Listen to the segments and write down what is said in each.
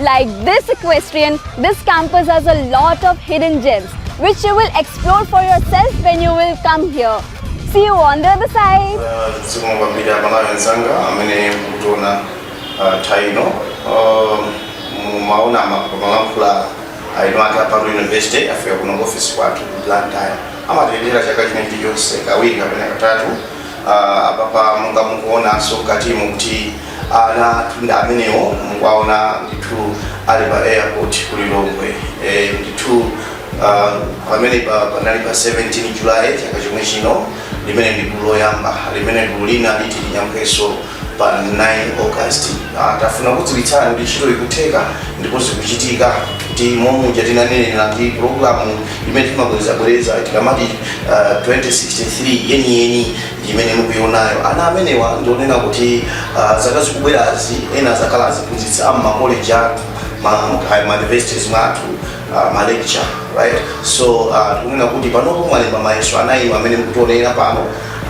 Like this equestrian, this campus has a lot of hidden gems which you will explore for yourself when you will come here. See you on the other side. zikomo kwambiri amalawi anzanga amene mukutionera pano mumaona amalankhula aja a ku Parul university afika kuno ku ofisi kwathu ku blantyre amatiyendera chaka china chilichonse kawiri kapena katatu Ah, apapa monga mukuonanso mkatimo kuti ana athu ndi amenewo mukuwaona ndithu ali pa airport ku lilongwe Eh, ndithu ah, pamene pa- panali pa 17 julayi chaka chomwe chino limene ndi gulu loyamba limene gulu lina liti linyamukenso pa 9 august Ah, tafuna kudziwitsani kuti ntchito ikutheka ndipo zikuchitika kuti momuja tinanenera ndi programu imene timabwerezabwereza tikamati ah, 2063 yeniyeni imene mukuionayo ana amenewa ndionena kuti uh, zaka zikubwerazi ena azakhala aziphunzitsi a mmakoleji athu mauniversities mwathu uh, malecture right so uh, tikunena kuti panopo mwalemba mayeso ana inu amene mukutionera pano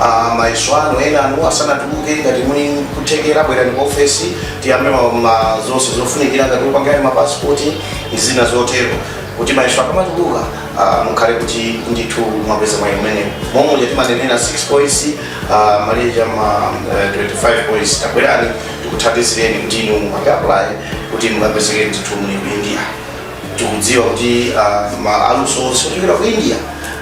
uh, mayeso anu ana anu asanatuluke ngati muli ndi kuthekera bwerani ku ofesi tiyambe ma- zonse zofunikira ngati opanga mapasipoti ndi zina zotero kuti mayeso akamatuluka ah, mukhale kuti ndithu mwapeza mwayi umene momwe uja timanenera 6 points ah, malekeza ma eh, 25 points tabwerani tikuthandizireni kuti inu muapulaye kuti mukapezeke ndithu muli ku india tikudziwa kuti ah, maluso onse ochokera ku india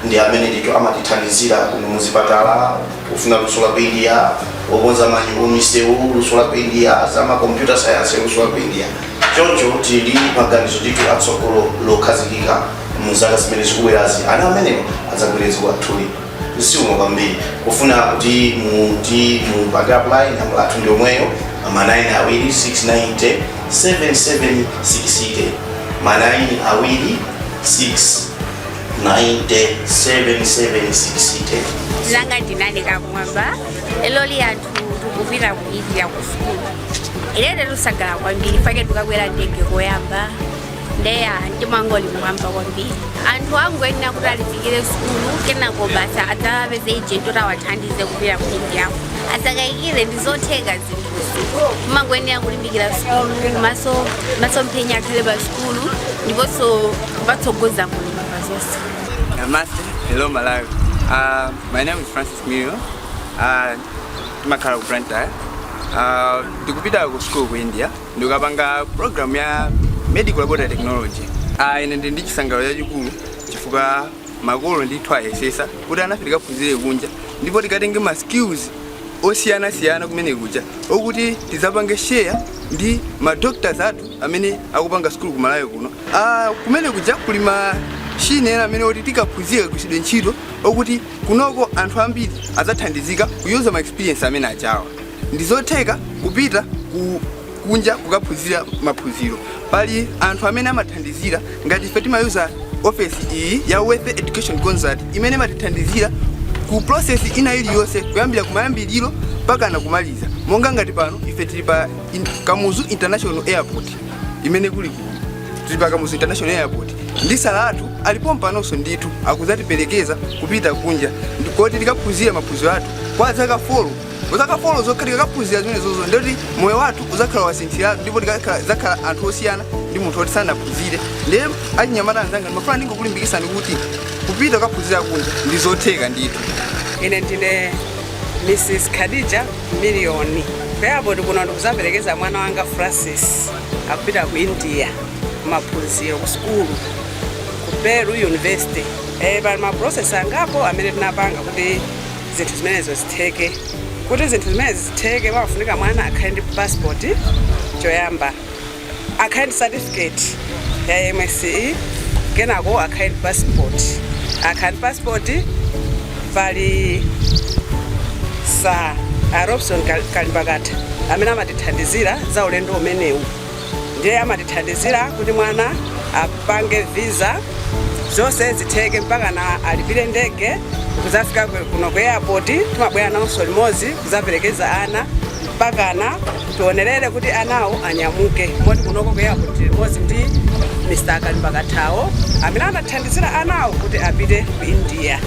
ndi amene ndithu amatithandizira kuno muzipatala kufuna luso la ku india okonza ma misewu luso la ku india za ma computer science luso la ku india Choncho tili ndi maganizo ndithu a tsogolo lokhazikika mu zaka zimene zikubwerazi. Ana amenewa adzagwire dziko lathuli. Zikomo kwambiri kufuna kuti mupange apply. Nambala yathu ndi yomweyo ma 9 awiri 690 7760 ma 9 awiri 690 7760. Nanga ndinani ka kumwamba lero li tikupita ku india ku sukulu ine ndikusangalala kwambiri chifukwa ndikakwera ndege koyamba nde ndimangoli mwamba kwambiri anthu akungoyenera kuti alimbikire sukulu kenako basi adzapeze ijenti kuti awathandize kupita ku indiako asakayikire ndi zotheka zinthuzi kumangoyenera kulimbikira sukulu masomphenya akhale pa sukulu ndiponso kumatsogoza mulungu pa zonse Namaste. Hello, Malawi. Uh, my name is Francis Mil, ah, timakhala ku Blantyre. Ah, ndikupita ku school ku India ndikapanga program ya medical laboratory technology. Ah, ine ndi ndi chisangalalo chachikulu chifukwa makolo ndithu ayesesa kuti ana tikaphunzire kunja ndipo tikatenge ma skills osiyanasiyana kumene kuja okuti tizapange share ndi ma doctors athu amene akupanga school ku Malawi kuno. Ah, kumene kuja kuli machine ena amene oti tikaphunzire kugwiritsidwa ntchito okuti Kunoko anthu ambiri adzathandizika kuyuza ma experience amene achawa. Ndizotheka kupita ku kunja kukaphunzira maphunziro. Pali anthu amene amathandizira ngati ife timayuza ofesi iyi ya Wealth Education Consult imene imatithandizira ku process ina iliyonse kuyambira kumayambiriro mpakana kumaliza. Monga ngati pano ife tili pa in, Kamuzu International Airport imene kuli kuno. tili pa kamuzu international airport ndi Sir athu alipo pompanonso ndithu akuzatiperekeza kupita kunja koti tikaphunzira maphunziro athu kwa zaka folo zaka folo zokha tikakaphunzira zimenezozo ndoti moyo wathu uzakhala wasinthiratu ndipo tikakhala- zakhala anthu osiyana ndi munthu oti sanaphunzire ndiye achinyamata anzanga ndimafuna ndingokulimbikisani kuti kupita kukaphunzira kunja ndizotheka ndithu ine ndine mrs khadija miliyoni pa airport kuno ndikuzaperekeza mwana wanga francis akupita ku india maphunziro ku sukulu ku parul university e, pali maprocess angapo amene tinapanga kuti zinthu zimenezo zitheke kuti zinthu zimenezi zitheke pamafunika mwana akhale ndi passport choyamba akhale ndi certificate ya msce kenako akhale ndi passport akhale ndi passport Pali Sir a Robson Kal- Kalimbakata amene amatithandizira za ulendo umenewu ndiye amatithandizira kuti mwana apange visa zonse zitheke mpakana alipire ndege kuzafika kuno ku airport timabwera nawonso limodzi kuzaperekeza ana mpakana tionelere kuti anawo anyamuke moti kunoko ku airport tili limodzi ndi mr kalimbakathawo amene anathandizira anawo kuti apite ku india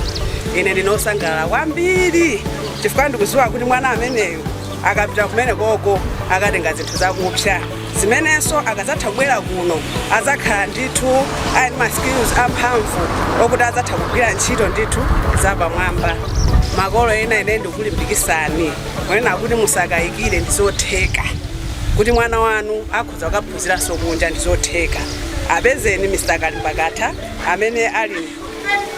ine ndine osangalala kwambiri chifukwa ndikuziwa kuti mwana ameneyo akapita kumene koko akatenga zinthu zakupsa zimenenso akadzatha kubwera kuno adzakhala ndithu ali ndi ma skills amphamvu okuti adzatha kugwira ntchito ndithu zapamwamba makolo ena ine ndikulimbikisani kunena kuti musakayikire ndizotheka kuti mwana wanu akhoza kukaphunziranso kunja ndizotheka apezeni mr kalimbakatha amene ali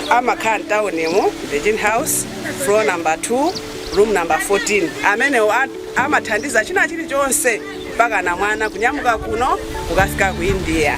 amakhala m'taunimo virgin house floor number 2 room number 14 amenewo a- amathandiza china chilichonse mpaka na mwana kunyamuka kuno kukafika ku india